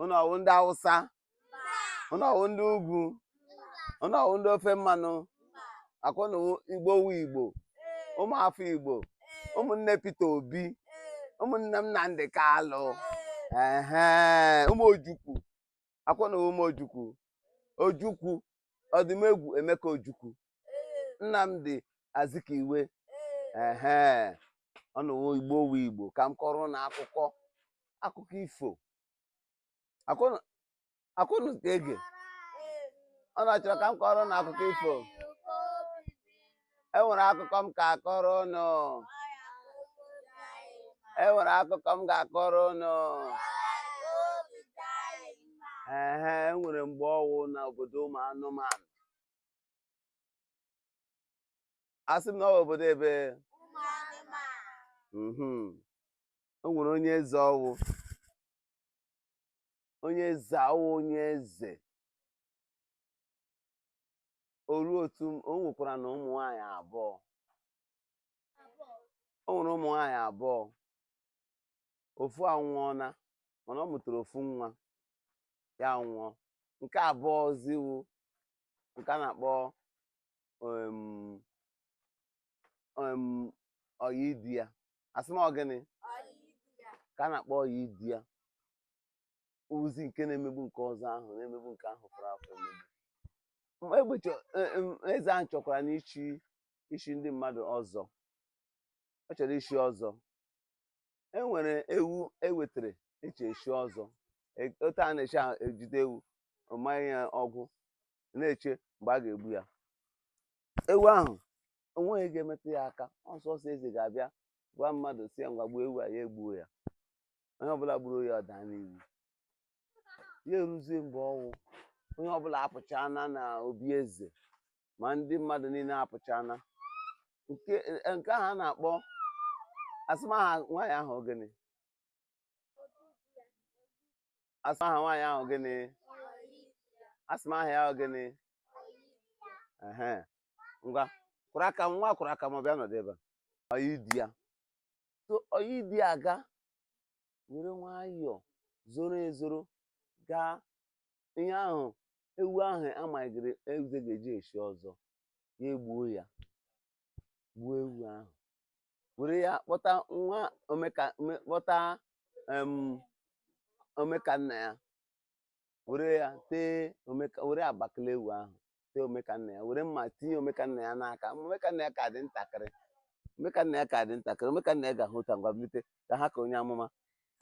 unu ọwụ ndị awụsa unu ọwụ ndị ugwu unu ọwụ ndị ofe mmanụ akwa unu wụ igbo wu igbo ụmụafọ igbo ụmụnne Peter Obi ụmụnne Nnamdi Kalụ ehe ụmụ ojukwu akwa unu wụ ụmụ ojukwu ojukwu ọdụmegwu emeka ojukwu Nnamdi Azikiwe ehe ọ ụnụ wụ igbo wu igbo ka m kọrọ ụnụ akụkọ akụkọ ifo akwa ụnụ ka ege ụnụ achọrọ ka m kọrọ ụnụ akụkọ ifo enwere akụkọ m ka akọrọ ụnụ enwere akụkọ m ga-akọrọ ụnụ ee enwere mgbe ọwụ na obodo ụmụ anụmanụ asị m na ọ bụ obodo ebee mhm. o nwere onye eze ọwụ onye eze ọwụ onye eze oru otu o nwekwaranụ ụmụ nwanyị abụọ o nwere ụmụ nwanyị abụọ ofu anwụọna mana ọ mụtara ofu nwa ya nwụọ nke abụọzi wu nke a na-akpọ um, um, ọyị di ya asị m ọ gịnị ka a na-akpọ ọyị di ya ọ zi nke na-emegbu nke ọzọ ahụ na-emegbu nke ahụ fọrọ afọ emegbu Ma egbe chọ- e- em, eze ahụ chọkwaranụ ichi ichi ndị mmadụ ọzọ ọ chọrọ ichi ọzọ e nwere ewu ewetara eji echi ọzọ E- otu a na-echi a- ejide ewu manye ya ọgbụ na-eche mgbe a ga-egbu ya ewu ahụ onweghị ga-emetụ ya aka ọ sọsọ eze ga-abịa gwa mmadụ si ya ngwa gbuo ewu a ya egbuo ya onye ọbụla gburu ya ọ daa n'iwu ya eruzie mgbe ọwụ onye ọbụla apụchaa na na obi eze ma ndị mmadụ niile apụchana nke e, nke ahụ a na-akpọ asị m aha nwaanyị ahụ gịnị asị m aha nwaanyị ahụ gịnị asị m aha ya ahụ gịnị ehe ngwa kwụrụ aka m ngwa kwụrụ aka m bịa nọdụ ebe a ọyị di ya so ọyị di ya ga were nwayọọ zoro ezoro gaa ihe ahụ ewu ahụ amaghịrị eze ga-eji echi ọzọ ya egbuo ya gbuo ewu ahụ were ya kpọta nwa omeka ome- kpọta em, omekanna ya were ya tee omeka were abakala ewu ahụ tee omekanna ya were mma tinye omekanna ya n'aka omekanna ya ka dị ntakịrị omekanna ya ka dị ntakịrị omekanna ya ga-ahụ ụta ngwa bilite ka ha ka onye amụma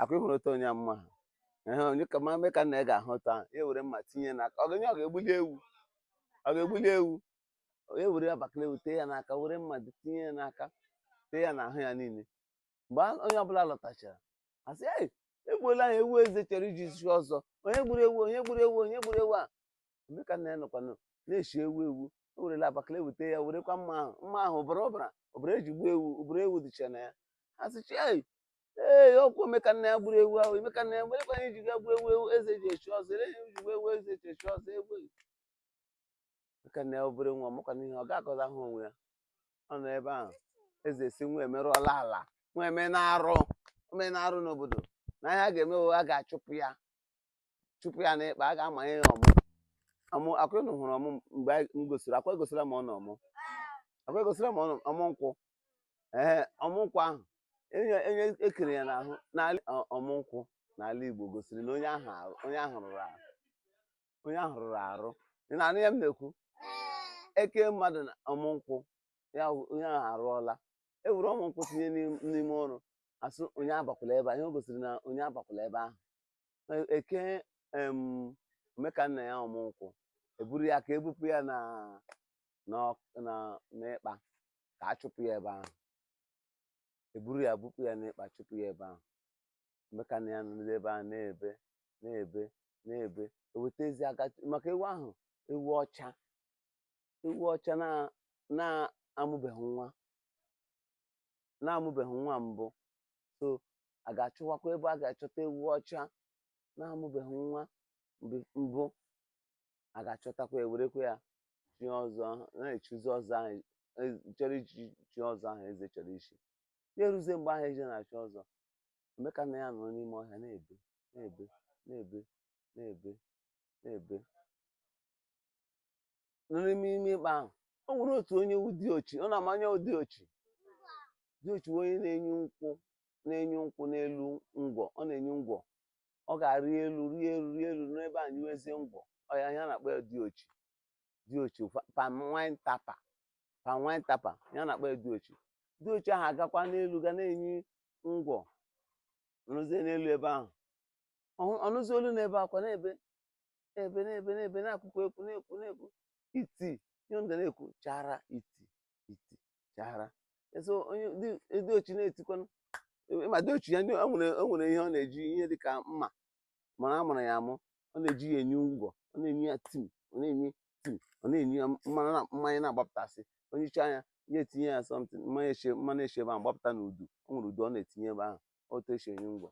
akwa ịhụrụ otu onye amụma ha ehe onye ka ma omekanna ya ga-ahụ ụta ahụ ya were mma tinye n'aka ọ ga-enye ọ ga-egbuli ewu ọ ga-egbuli ewu ya were abakala ewu tee ya n'aka were mma dị- tinye ya n'aka tee ya n'ahụ ya niile mgbe a- onye ọbụla lọtachara asị "Ei, egbuola ya ewu eze chọrọ iji chie ọzọ onye gburu ewu onye gburu ewu onye gburu ewu a omekanna ya nọkwanụ na-eshi ewu ewu o werela abakala ewu tee ya werekwa mma ahụ mma ahụ ọbara ọbara ọbara eji gbuo ewu ọbara ewu dịcha na ya ha sịcha ei ee ọkwa omekanna ya gburu ewu ahụ omekanna ya werekwa ihe ji ga gbuo ewu ewu eze ji echi ọzọ ele ihe ji gbuo ewu eze ji echi ọzọ ewu omekanna ya obere nwa makwa n'ihe ọ ga-akọza ahụ onwe ya ọ nọ ebe ahụ eze sị nwa emerụọla ala nwa emeela arụ o meela arụ n'obodo na ihe a ga-eme a ga-achụpụ ya chụpụ ya n'ịkpa a ga-amanye ya ọmụ ọmụ akwa ụnụ hụrụ ọmụ mgbe anyị- m gosiri akwa egosila m ụnụ ọmụ akwa egosila m ụnụ ọmụ nkwụ ee ọmụ nkwụ ahụ onye onye e kere ya n'ahụ n'ala ọ- ọmụ nkwụ n'ala Igbo gosiri na onye ahụ arụ- onye ahụ rụrụ arụ onye ahụ rụrụ arụ ị na-anụ ihe m na-ekwu e kee mmadụ na ọmụ nkwụ ya wụ- onye ahụ arụọla e were ọmụ nkwụ tinye n'im- n'ime ọrụ a sị onye abakwala ebe a ihe o gosiri na onye abakwala ebe ahụ e kee em omekanna ya ọmụ nkwụ eburu ya ka ebupụ ya na n'ọk- na n'ịkpa ka a chụpụ ya ebe ahụ eburu ya bupụ ya n'ịkpa chụpụ ya ebe ahụ omekanna ya nọdụ ebe ahụ na-ebe na-ebe na-ebe eweta ezi aka maka ewu ahụ ewu ọcha ewu ọcha na na-amụbeghị nwa na-amụbeghị nwa mbụ so a ga-achọwakwa ebe a ga-achọta ewu ọcha na-amụbeghị nwa mbụ a ga-achọtakwa e werekwa ya chie ọzọ na-echizi ọzọ ahụ e, chọrọ ichi chie ọzọ ahụ eze chọrọ ichi ya eruzie mgbe ahụ eze na-echi ọzọ omekanna ya nọrọ n'ime ọhịa na-ebe na-ebe na-ebe na-ebe na-ebe nọ n'ime ime ịkpa ahụ o nwere otu onye wụ diochi ụnụ ma onye wụ diochi diochi bụ onye na-enyi nkwụ na-enyi nkwụ n'elu ngwọ ọ na-enyi ngwọ ọ ga-arị elu rịa elu rịa elu n'ebe a nyiwezie ngwọ ọ ya ya na-akpọ ya diochi diochi fa- palm wine tapper palm wine tapper ya a na-akpọ ya diochi diochi ahụ agakwa n'elu ga na-enyi ngwọ nọzie n'elu ebe ahụ Ọ- ọ nụzie olu na-ebe akwa na-ebe na-ebe na-ebe na-ebe na-agụkwa egwu na-ekwu na-ekwu iti ihe ndị na-ekwu chara iti iti chara so onye di- di ochi na-etikwanụ e- ma di ochi ya ndị o nwere o nwere ihe ọ na-eji ihe dị ka mma mana a mụrụ ya amụ ọ na-eji ya enye ngwọ ọ na-enye ya tim ọ na-enye tim ọ na-enye ya mmanụ na- mmanya na-agbapụtasị onye iche anya ya etinye ya something mmanya esi mmanụ esi ebe ahụ gbapụta na udu o nwere udu ọ na-etinye ebe ahụ otu esi enye ngwọ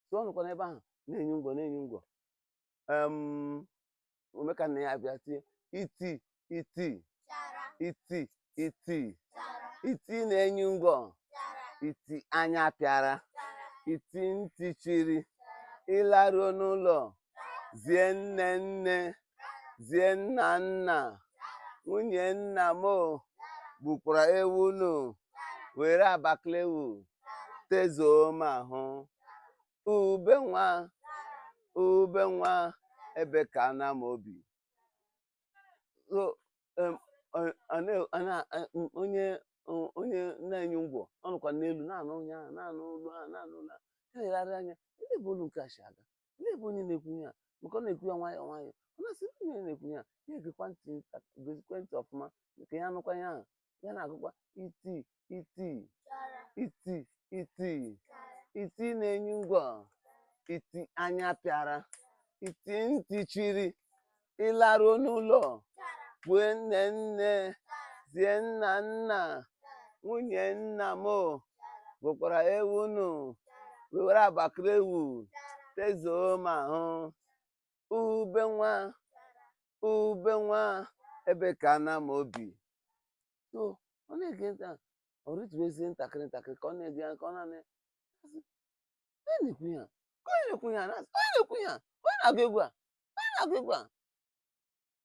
so ọ nọkwa n'ebe ahụ na-enye ngwọ na-enye ngwọ omekannaya abịa tie iti iti iti iti iti na-enye ngwọ iti anya pịara iti ntị chiri ị laruo n'ụlọ zie nne nne zie nna nna nwunye nna m gbukwara ewu unu were abaklewu tezuo m ahụ ube nwa ube nwa ebe ka na m obi so onye na-enye ngwọ ọ nọkwa n'elu na-anụ onye ahụ na-anụ olu ahụ na-anụ olu ahụ na-elegharị anya ndị ebe olu nke a si aga ndị bụ onye na-ekwu ihe a maka ọ na-ekwu ya nwayọọ nwayọọ ọ na-asị onye na-ekwu ihe a ya egekwa ntị gezikwa ntị ọfụma ka ya nụkwa ihe ahụ ya na-agụkwa iti iti iti iti iti na-enye ngwọ iti anya pịara iti ntị chiri ị laruo n'ụlọ kwue nne nne zie nna nna nwunye nna m gbukwara ewu unu wewere abakara ewu tezuo m ahụ ube nwa ube nwa ebe ka na m obi so ọ na-ege ntị ọ rịtuwezie ntakịrị ntakịrị ka ọ na-ege ya ka ọ na-anụ onye na-ekwu ya ka onye na-ekwu ya na onye na-ekwu ya onye na-agụ egwu a onye na-agụ egwu a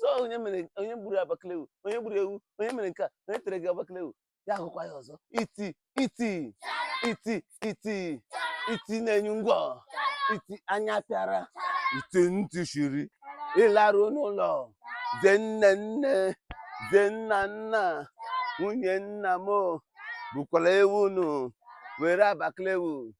so onye mere onye gburu abaklewu onye gburu ewu onye mere nke a onye tere gị abaklewu ya agụkwa ya ọzọ iti iti iti iti iti na-enye ngwọ iti anya pịara iti ntị shiri ị laruo n'ụlọ zie nne nne zie nna nna nwunye nna m gbukwala ewu unu were abaklewu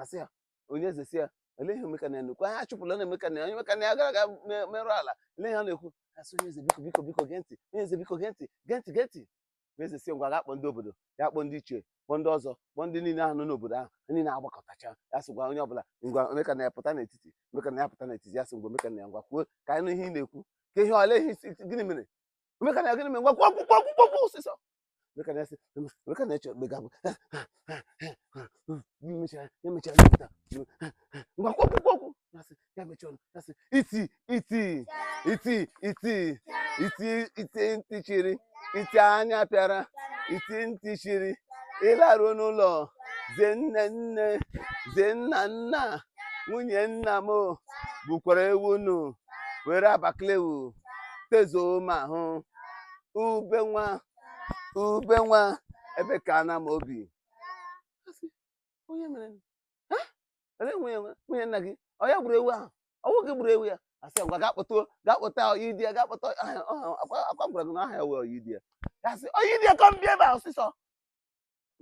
asị ya onye eze si ya olee ihe omekannaya na-ekwu ha achụpụla omekannaya onye omekannaya gara aga merụ ala ele ihe a na-ekwu asị onye eze biko biko biko gee ntị onye eze biko gee ntị gee ntị gee ntị onye eze si ngwa gaa kpọọ ndị obodo ya kpọọ ndị ichie kpọọ ndị ọzọ kpọọ ndị niile ahụ nọ n'obodo ahụ niile agbakọtacha ya sị gwa onye ọbụla ngwa omekannaya pụta n'etiti omekannaya pụta n'etiti ya sị ngwa omekannaya ngwa kwuo ka anyị nụ ihe ị na-ekwu ka ihe ole ihe gịnị mere omekannaya gịnị mere ngwa kwuo kwuo kwuo kwuo kwuo ọsịsọ Look at that. Look at that. Look at that. Iti, iti, iti, iti, iti, iti ntị chiri, iti anya pịara, iti ntị chiri, ịlaruo n'ụlọ, zie nne nne, zie nna nna, nwunye nna m bukwara ewu nụ, were abaklewu, tezuo m ahụ. ube nwa ube nwa ebe ka ana m obi onye mere ele nwunye nwunye nna gị ọ ya gburu ewu ahụ ọ wụ gị gburu ewu a asị ngwa gaa kpọta gaa kpọta Oyidiya gaa kpọta akwa gwara gị na aha ya wụ Oyidiya ya sị Oyidiya come bịa ebe a ọsịsọ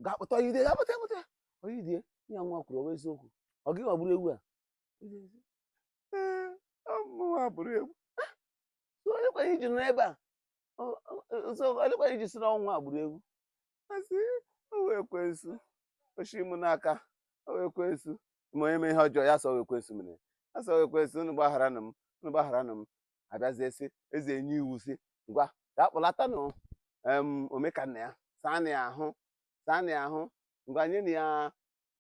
gaa kpọta Oyidiya gaa kpọta kpọta Oyidiya ihe nwa kwuru ọ wụ eziokwu ọ gị nwa gburu ewu a mụnwa gburu ewu so olekwa ihe i ji nọ ebe a O- o- o- so olekwa ihe i ji sị na ọ nwa a gburu ewu asị ọ wụ ekwensu o shi m n'aka ọ wụ ekwensu ma onye mee ihe ọjọọ ya sị ọ wụ ekwensu mere ya sị ọ wụ ekwensu unu gbaghara nụ m unu gbaghara nụ m abịazie sị eze enye iwu sị ngwa gaa kpọlata nụ em Omekannaya saa nụ ya ahụ saa nụ ya ahụ ngwa nye nụ ya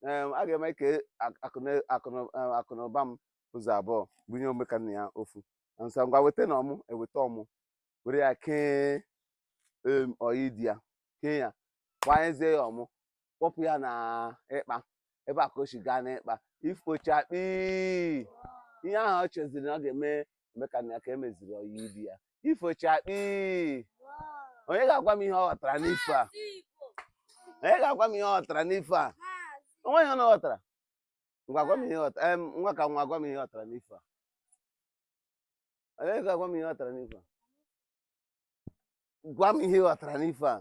Em, a ga-eme ka ak- akụna- akụna- em, akụnụba m ụzọ abụọ bunye Omekannaya ofu asị ngwa weta nụ ọmụ eweta ọmụ were ya kee em, Oyidiya kee ya gbanyezie ya ọmụ kpọpụ ya na ikpa ebe a ka o si gaa n'ikpa ifo chakpii ihe ahụ ọ cheziri na ọ ga-eme eme ka nna ya ka emeziri ọyị di ya ifo chakpi onye ga-agwa m ihe ọ ghọtara n'ifo a onye ga-agwa m ihe ọ ghọtara n'ifo a o nwe ihe ọ ghọtara ngwa gwa m ihe ghọtara em nwa ka nwa gwa m ihe ghọtara n'ifo a onye ga-agwa m ihe ghọtara n'ifo a gwa m ihe ghọtara n'ifo a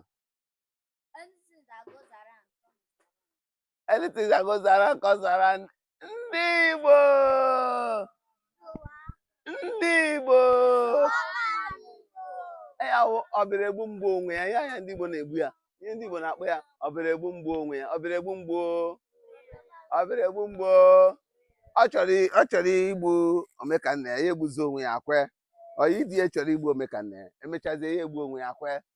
anything that goes around comes around ndị Igbo ndị Igbo ya wụ ọbịara egbu m gbuo onwe ya ihe anya ndị Igbo na-egbu ya ihe ndị Igbo na-akpọ ya ọbịara egbu m gbuo onwe ya ọbịara egbu m gbuo ọbịara egbu m gbuo ọ chọrọ igbu Omekannaya ya egbuzi onwe ya kwe Oyidiya chọrọ igbu Omekannaya emechazie ya egbu onwe ya kwe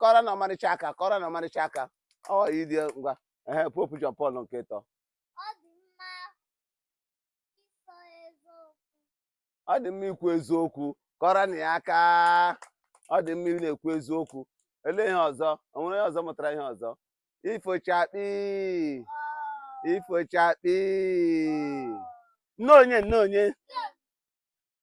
kụọrọ nụ Ọmarịcha aka kụọrọ nụ Ọmarịcha aka ọ ịdị ngwa ehe Pope John Paul nke ịtọ ọ dị mma ikwu eziokwu kụọrọ nụ ya aka ọ dị mma ịna-ekwu eziokwu elee ihe ọzọ o nwere ihe ọzọ mụtara ihe ọzọ ifo chakpi ifo chakpi nne onye nne onye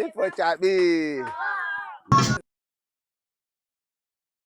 ịfọchakpi